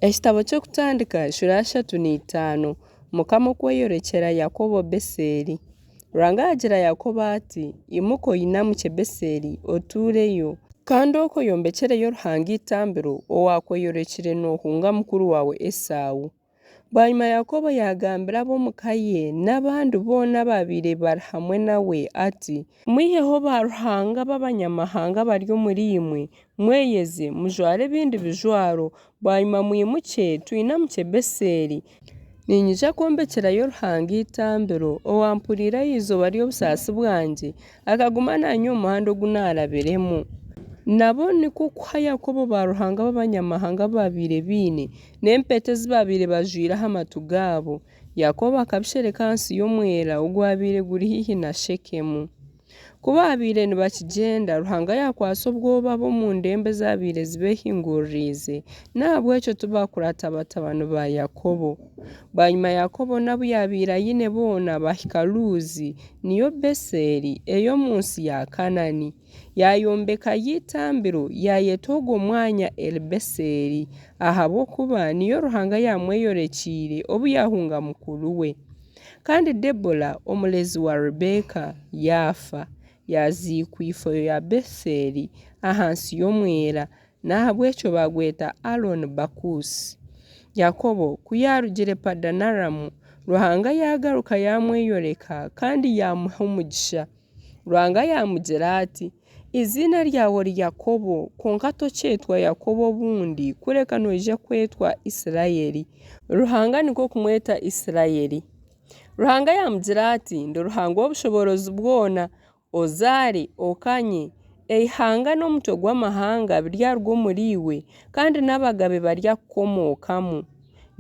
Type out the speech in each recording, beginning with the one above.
Ekitabo ky'Okutandika eshura ya shatu na itaano Mukama okweyorekyera Yakobo Beseeli Ruhanga yaagira Yakobo ati Imuka oyinamukye Beseeli otuureyo, kandi okwo oyombekyereyo Ruhanga eitambiro owaakweyorekire noohunga mukuru waawe Esau. Bwanyima Yakobo yaagambira ab'omu ka ye n'abandi boona abaabaire bari hamwe nawe ati, Mwiheho baaruhanga b'abanyamahanga abari omuriimwe Mweyeze, mujware ebindi bijwaro, bwanyima mwimukye, twinamukye Beseeli. Niinyija kwombekyerayo Ruhanga eitambiro, owampuriire aha izooba ry'obusaasi bwangye, akaguma naanye omu muhanda ogu naarabiremu. Nabo nikwo kuha Yakobo baaruhanga b'abanyamahanga abu baabaire baine, n'empeta ezi baabaire bajwaire aha matu gaabo. Yakobo akabishereka ahansi y'omwera ogwabaire guri haihi na Shekemu. Ku baabaire nibakigyenda, Ruhanga yaakwatsa obwoba ab'omu ndembo ezaabaire zibeehinguririize, n'ahabw'ekyo tibaakuraata batabani ba Yakobo. Bwanyima Yakobo n'abu yaabaire aine boona baahika Luuzi, niyo Beseeli, ey'omu nsi ya Kanaani. Yaayombekayo eitambiro, yaayeta ogwo mwanya Eli-Beseeli, ahabw'okuba niyo Ruhanga yaamweyorekyeire obu yaahunga mukuru we. Kandi Debora omurezi wa Rebeka yaafa, yaaziikwa ifo ya Beseeli ahansi y'omwera, n'ahabw'ekyo baagweta Aloni Bakuusi. Yakobo ku yaarugire Padanaramu, Ruhanga yaagaruka yaamweyoreka kandi yaamuha omugisha. Ruhanga yaamugira ati, Eiziina ryawe ori Yakobo, kwonka tokyetwa Yakobo obundi, kureka noija kwetwa Isiraeli. Ruhanga nikwo kumweta Isiraeli. Ruhanga yaamugira ati, Ndi Ruhanga ow'obushoboorozi bwona, ozaare, okanye. Eihanga n'omutwe gw'amahanga biryaruga omuriiwe, kandi n'abagabe baryakukomookamu.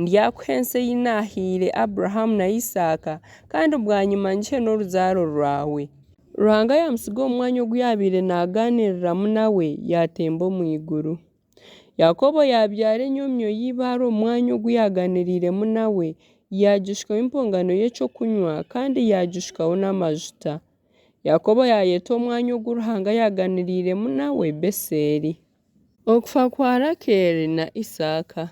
Ndyakuha ensi ei naahaire Abrahamu na Isaaka, kandi bwanyima ngihe n'oruzaaro rwawe. Ruhanga yaamutsiga omu mwanya ogu yaabaire naagaaniriramu nawe yaatemba omu iguru. Yakobo yaabyara enyomyo ya eibaare omu mwanya ogu yaagaaniriiremu nawe, yaagishukaho empongano y'eky'okunywa kandi yaagishukaho n'amajuta. Yakobo yaayeta omwanya ogu Ruhanga yaagaaniriiremu nawe Beseeli. Okufa kwa Rakeeli na Isaaka.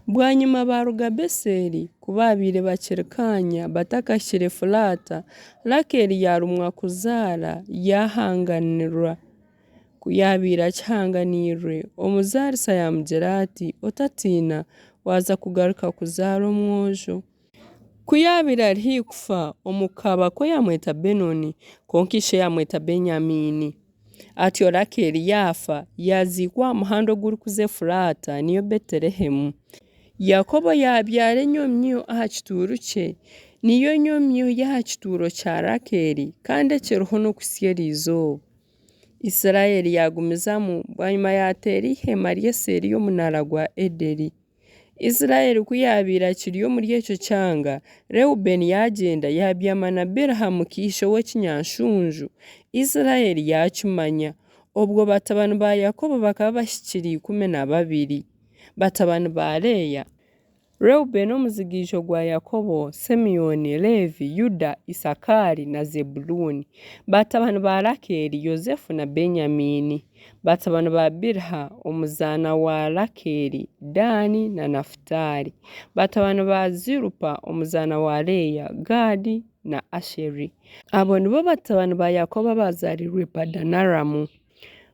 Bwanyima baaruga Beseeli, ku baabaire bakiri kaanya batakahikire Efuraata, Rakeeli yaarumwa kuzaara yaahanganirwa. Ku yaabaire akihanganiirwe, omuzaarisa yaamugira ati, Otatiina, waaza kugaruka kuzaara omwojo. Ku yaabaire ari haihi kufa, omu kabakwe yamweta Benoni, kwonka ishe yamweta Benyamiini. Atyo Rakeeli yaafa, yaaziikwa aha muhanda ogurikuza Efuraata, niyo Betelehemu. Yakobo yaabyara enyomyo aha kituuru kye, niyo nyomyo y'aha kituuro kya Rakeeli, kandi ekiriho n'okutsya eri izooba. Isiraeli yaagumizamu, bwanyima yaateera eiheema rye seeri y'omunaara gwa Ederi. Isiraeli ku yaabaire akiri omuri ekyo kyanga, Reubeeni yaagyenda yaabyama na Biliha mukaishe w'ekinyaanshunju. Isiraeli yaakimanya. Obwo batabani ba Yakobo bakaba bahikire ikumi na babiri. Batabani ba Leeya. Reubeeni omuzigiijo gwa Yakobo, Simeoni, Leevi, Yuda, Isakaari na Zebuluuni. Batabani ba Rakeeli, Yosefu na Benyamiini. Batabani ba Biliha, omuzaana wa Rakeeli, Daani na Nafutaali. Batabani ba Zilupa, omuzaana wa Leeya, Gaadi na Asheri. Abo nibo batabani ba Yakobo abaazaariirwe Padanaramu.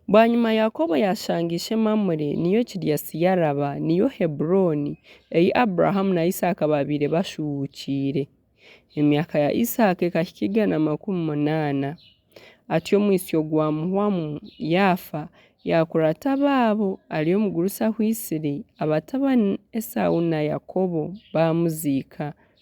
Bwanyima Yakobo yaashanga ishe Mamure, niyo Kiriasi-Yaraba, niyo Heburooni, ei Abrahamu na Isaaka baabaire bashuuhukiire. Emyaka ya Isaaka ekahika igana makumi munaana. atyo omwitsyo gwa muhwamu yaafa yaakura ata abaabo ari omugurusi ahwaitsire abatabani Esau na Yakobo baamuziika.